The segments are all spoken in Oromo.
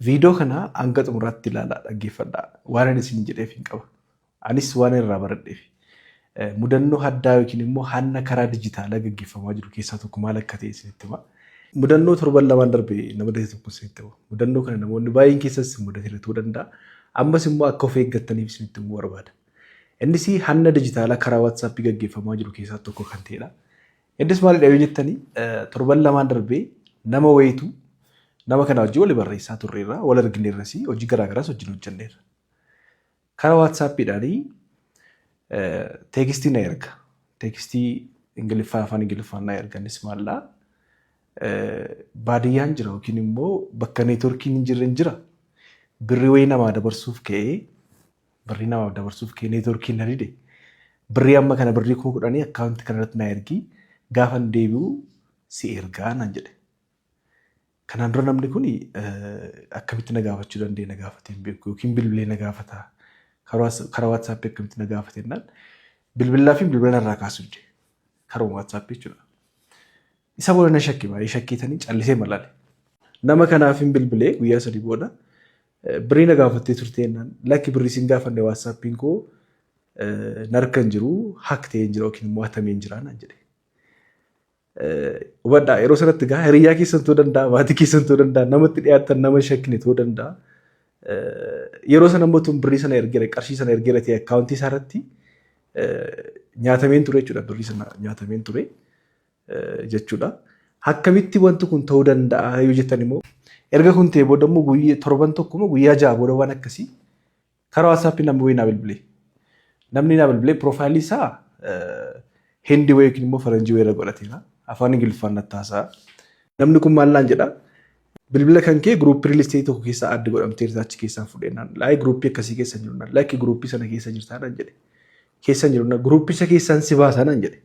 Viidoo kana hanga xumuraatti ilaalaa dhaggeeffadhaa. Waanan isin jedheef hin qaba. Anis waan irraa baradheef. Mudannoo haddaa yookiin immoo hanna karaa dijitaalaa gaggeeffamaa jiru keessaa tokko maal akka ta'e isinitti hima. Mudannoo torban lamaan darbe na mudate tokko isinitti hima. Mudannoo kana namoonni baay'een keessas isin mudatera ta'uu danda'a. Ammas immoo akka of eeggattaniif isinitti himuu barbaada. Innis hanna dijitaalaa karaa WhatsApp gaggeeffamaa jiru keessaa tokko kan ta'edha. Innis maalidha yoo jettanii torban lamaan darbee nama wayiitu nama kana wajjin wali barreessaa turreerra wal argineerras hojii garaagaraas wajjin hojjenneerra. Karaa waatsaappiidhaanii teekistii na erga. Teekistii Ingiliffaa afaan Ingiliffaan na erga innis maallaa baadiyyaan jira yookiin immoo bakka neetworkiin hin jirre hin jira. Birrii wayii namaa dabarsuuf ka'ee birrii namaaf dabarsuuf kee neetworkiin na dide birrii amma kana birrii kuma kudhanii akkaawunti kana irratti na ergii gaafan deebi'u si ergaa naan jedhe. Kanaan dura namni kun akkamitti na gaafachuu danda'e na gaafatee hin beeku yookiin bilbilee na gaafata karaa waatsaappii akkamitti na gaafate jennaan bilbilaa fi bilbila narraa kaasuu dide karuma waatsaappii jechuudha. Isa booda na shakke baay'ee shakkeetanii callisee malaale. Nama kanaaf hin bilbilee guyyaa sadii booda birrii na gaafattee turtee jennaan lakki birrii sin gaafanne waatsaappiin koo narka hin jiru hak ta'ee hin jira yookiin immoo hatamee hin jira naan jedhe. Hubadhaa yeroo sanatti gaa hiriyyaa keessan ta'uu danda'a maatii keessan ta'uu danda'a namatti dhiyaatan nama shakkine ta'uu danda'a. Yeroo sana immoo tun birrii sana ergeera qarshii sana ergeera ta'e akkaawuntii isaa irratti nyaatameen ture jechuudha birrii sana nyaatameen ture. jechuudha. Akkamitti wanti kun ta'uu danda'a yoo jettan immoo erga kun ta'e booda immoo guyyaa torban tokko immoo guyyaa ja'a booda waan akkasii karaa waatsaappii namni wayii naa bilbilee. Namni naa bilbilee piroofaayilii isaa hindi wayii yookiin immoo faranjii wayii irra godhateera. Afaan Ingiliffaan natti haasa'a. Namni kun maal naan jedha? Bilbila kan kee giruuppii riilisteetii tokko keessaa adda godhamteerta achi keessaan fudhee naan laayii giruuppii akkasii keessa jiru naan laayii giruuppii sana keessa jirtaa naan jedhe. keessan jiru na groupicha keessan si baasa nan jedhe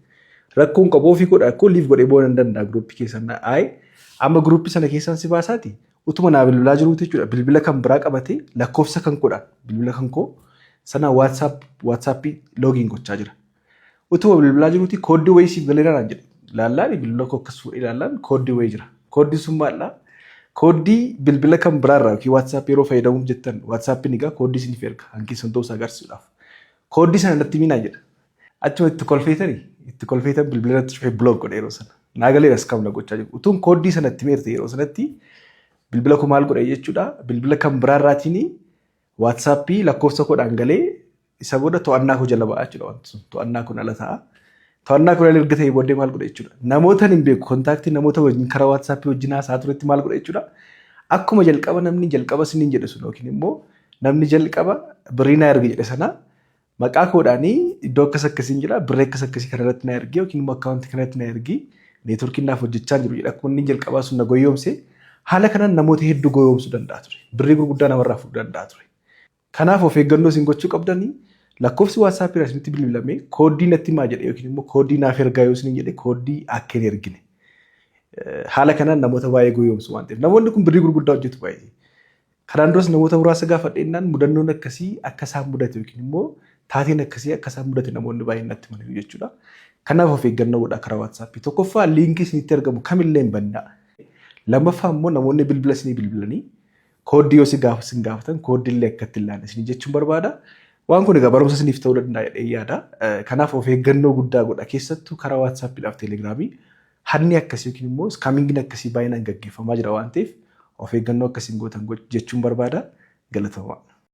rakkoon qabu ofii godha akkoo liif godhee boonan danda'a groupi keessan na ayi amma groupi sana keessan si baasaati utuma naa bilbilaa jiruuti jechuudha bilbila kan biraa qabate lakkoofsa kan godha bilbila kan koo sana whatsapp whatsappi loogiin gochaa jira utuma bilbilaa jiruuti kooddii wayii siif galeera naan jedhe laallaan bilbila koo akkas fuudhee laallaan kooddii wayii jira kooddiin sun maallaa kooddii bilbila kan biraarraa yookiin whatsapp yeroo fayyadamuuf jettan whatsapp ni gaa kooddii isiniif erga hankeessan ta'uu isaa agarsiisuudhaaf Kooddii sana natti himinaa jedha. Achuma itti kolfeetani itti kolfeetan bilbila irratti cufee block godhe yeroo sana. Naa galeera skam na gochaa jiru. Utuun kooddii sana itti meerte yeroo sanatti bilbila koo maal godhe jechuudha. Bilbila kan biraa irraatiin waatsaappii lakkoofsa koodhaan galee isa booda to'annaa koo jala ba'aa jechuudha wanti sun. To'annaa kun ala ta'a. To'annaa koolaan erga ta'ee booddee maal godha jechuudha. Namootaan hin beeku kontaaktii namoota wajjin karaa waatsaappii wajjin haasaa turetti maal godha jechuudha. Akkuma jalqaba namni jalqaba siniin jedhe sun yookiin immoo namni jalqaba birrii naa erga jedhe sana maqaa koodhaanii iddoo akkas akkasiin jira birrii akkas akkasii kana irratti naa ergi yookiin immoo akkaawuntii kana irratti naa ergi neetworkiin naaf hojjechaa jiru jedha akkuma inni jalqabaa sun na goyoomse haala kanaan namoota hedduu goyoomsuu danda'a ture birrii gurguddaa namarraa fudhuu danda'a ture. Kanaaf of eeggannoo isin gochuu qabdan lakkoofsi WhatsApp irraa isinitti bilbilame kooddii natti himaa jedhe yookiin immoo kooddii naaf ergaa yoo isiniin jedhe kooddii akka hin ergine. Haala kanaan namoota baay'ee goyoomsu waan ta'eef namoonni kun birrii gurguddaa hojjetu baay'ee. Kanaan duras namoota muraasa gaafadheennaan mudannoon akkasii akka isaan mudate yookiin immoo taateen akkasii akka isaan mudate namoonni baay'een natti himaniiru jechuudha. Kanaaf of eeggannoo godhaa karaa WhatsApp. Tokkoffaa liinkii isinitti argamu kamillee hin bannaa. Lammaffaa immoo namoonni bilbila isinii bilbilanii Kooddii yoo si gaafa sin gaafatan kooddii illee akka itti ilaalle isin jechuun barbaada. Waan kun egaa barumsa isiniif ta'uu danda'a jedhee yaada. Eh, Kanaaf of eeggannoo guddaa godha keessattuu karaa waatsaappiidhaaf teelegiraamii hanni akkasii yookiin immoo iskaamingiin akkasii baay'inaan gaggeeffamaa jira waan ta'eef of eeggannoo akkasiin gootan goch- jechuun barbaada. Galatoomaa.